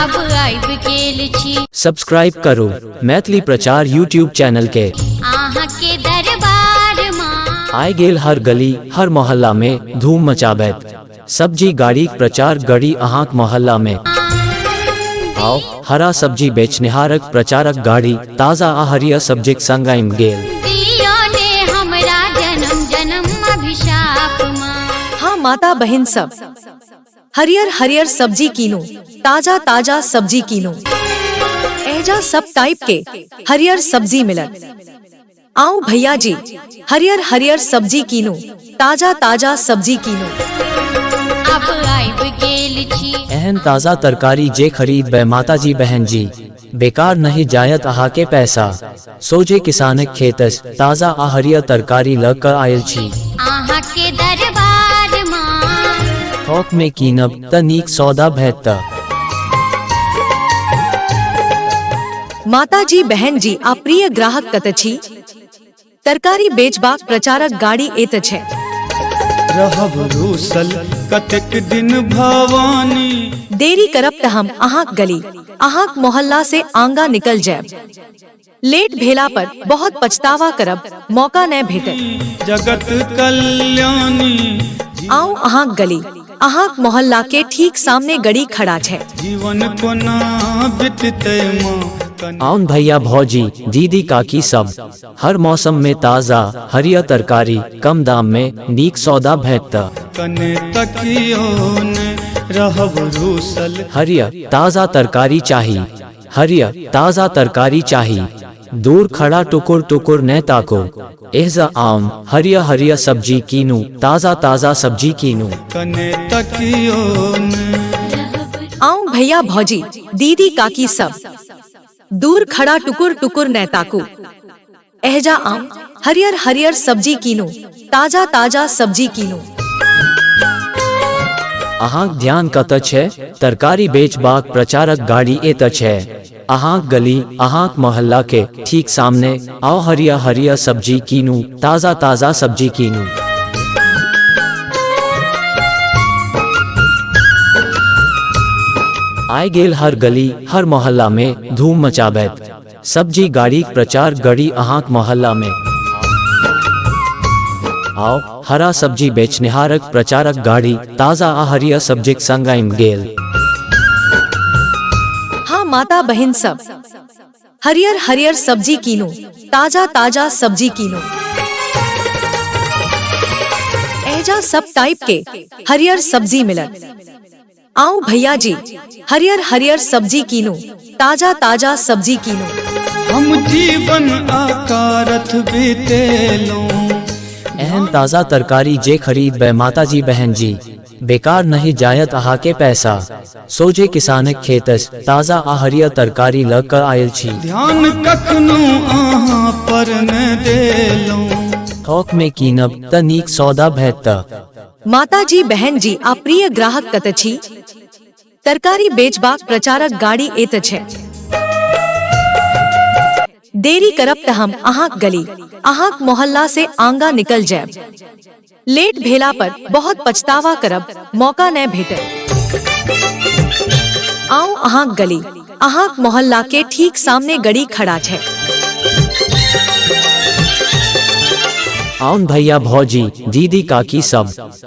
अब आइब गेल छी सब्सक्राइब करू मैथिली प्रचार यूट्यूब चैनल के अहाँ के दरबार माँ आय गेल हर गली हर मोहल्ला में धूम मचाबैत सब्जी गाड़ी प्रचार गड़ी अहाँक मोहल्ला में आओ हरा सब्जी बेचनिहारक प्रचारक गाड़ी ताजा आ हरियर सब्जीक संग आइम गेल दियो ने हमरा जन्म जन्म अभिशाप माँ हाँ माता बहन सब हरियर हरियर सब्जी कीनू ताजा ताजा सब्जी कीनू एजा सब टाइप के हरियर सब्जी मिलत आओ भैया जी हरियर हरियर सब्जी कीनू ताजा ताजा सब्जी कीनू अब आबि गेल छी एहन ताजा तरकारी जे खरीद बे माता जी बहन जी बेकार नहि जायत अहाँके पैसा सोझे किसानक खेतस ताजा आ हरियर तरकारी लऽ कऽ आयल छी अहाँके दरबार माँ थोक मे कीनब तऽ नीक सौदा भेटत माताजी बहनजी आ प्रिय ग्राहक कतऽ छी तरकारी बेचबाक प्रचारक गाड़ी एत छै रहब रूसल कतेक दिन भवानी देरी करब तऽ हम अहाँक गली अहाँक मोहल्ला से आंगा निकल जायब लेट भेला पर बहुत पछतावा करब मौका नहि भेटत जगत कल्याणी आउ अहाँक गली अहाँक मोहल्ला के ठीक सामने गड़ी खड़ा छै जीवन कोना बितते माँ कन आउन भैया भौजी दीदी काकी सब हर मौसम में ताजा हरिया तरकारी कम दाम में नीक सौदा भेटत कने तकियो ने रहब रूसल हरिया ताजा तरकारी चाही हरिया ताजा तरकारी चाही दूर खड़ा टुकुर टुकुर न ताको एहजा आम हरिया हरिया सब्जी कीनू ताजा ताजा सब्जी कीनू कने तकियो ने आऊं भैया भौजी दीदी काकी सब दूर खड़ा टुकुर टुकुर न ताकू एहजा आम हरियर हरियर सब्जी कीनू ताजा ताजा सब्जी कीनू अहाँक ध्यान कतऽ छै तरकारी बेचबाक प्रचारक गाड़ी एतऽ छै अहाँक गली अहाँक मोहल्ला के ठीक सामने आओ हरिया हरिया सब्जी कीनू ताजा ताजा सब्जी कीनू आय गेल हर गली हर मोहल्ला में धूम मचाबैत सब्जी गाड़ी प्रचार गड़ी अहाँक मोहल्ला में आओ हरा सब्जी बेचनिहारक प्रचारक गाड़ी ताजा आ हरिया सब्जीक संग आइम गेल हाँ माता बहन सब हरियर हरियर सब्जी कीनो ताजा ताजा सब्जी कीनो एजा सब टाइप के हरियर सब्जी मिलत आओ भैया जी हरियर हरियर सब्जी कीनो ताजा ताजा सब्जी कीनो हम जीवन आकारथ बीतेलों अहम ताज़ा तरकारी जे खरीद बे माता जी बहन जी बेकार नहि जायत अहाँके पैसा सोझे किसानक खेतस ताजा आ हरियर तरकारी लऽ कऽ आयल छी ध्यान कखनो अहाँ पर ने देलहुँ थोक मे कीनब तऽ नीक सौदा भेटत माताजी बहनजी आ प्रिय ग्राहक कतऽ छी तरकारी बेचबाक प्रचारक गाड़ी एत छै देरी करब त हम अहा गली अहा मोहल्ला से आंगा निकल जाए लेट भेला पर बहुत पछतावा करब मौका न भेटे आओ अहा गली अहा मोहल्ला के ठीक सामने गड़ी खड़ा छै आउन भैया भौजी दीदी काकी सब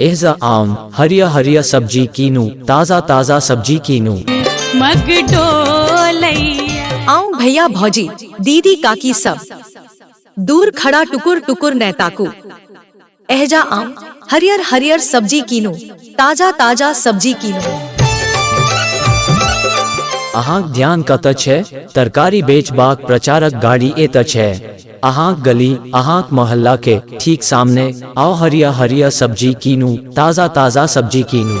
एहजा आम हरिया हरिया सब्जी कीनू ताजा ताजा सब्जी कीनू मग डोलैया आऊं भैया भौजी दीदी काकी सब दूर खड़ा टुकुर टुकुर नैताकू एहजा आम हरियर हरियर सब्जी कीनू ताजा ताजा सब्जी कीनू अहाँक ध्यान कतऽ छै तरकारी बेचबाक प्रचारक गाड़ी एतऽ छै अहाँक गली अहाँक मोहल्ला के ठीक सामने आओ हरिया हरिया सब्जी कीनू ताजा ताजा सब्जी कीनू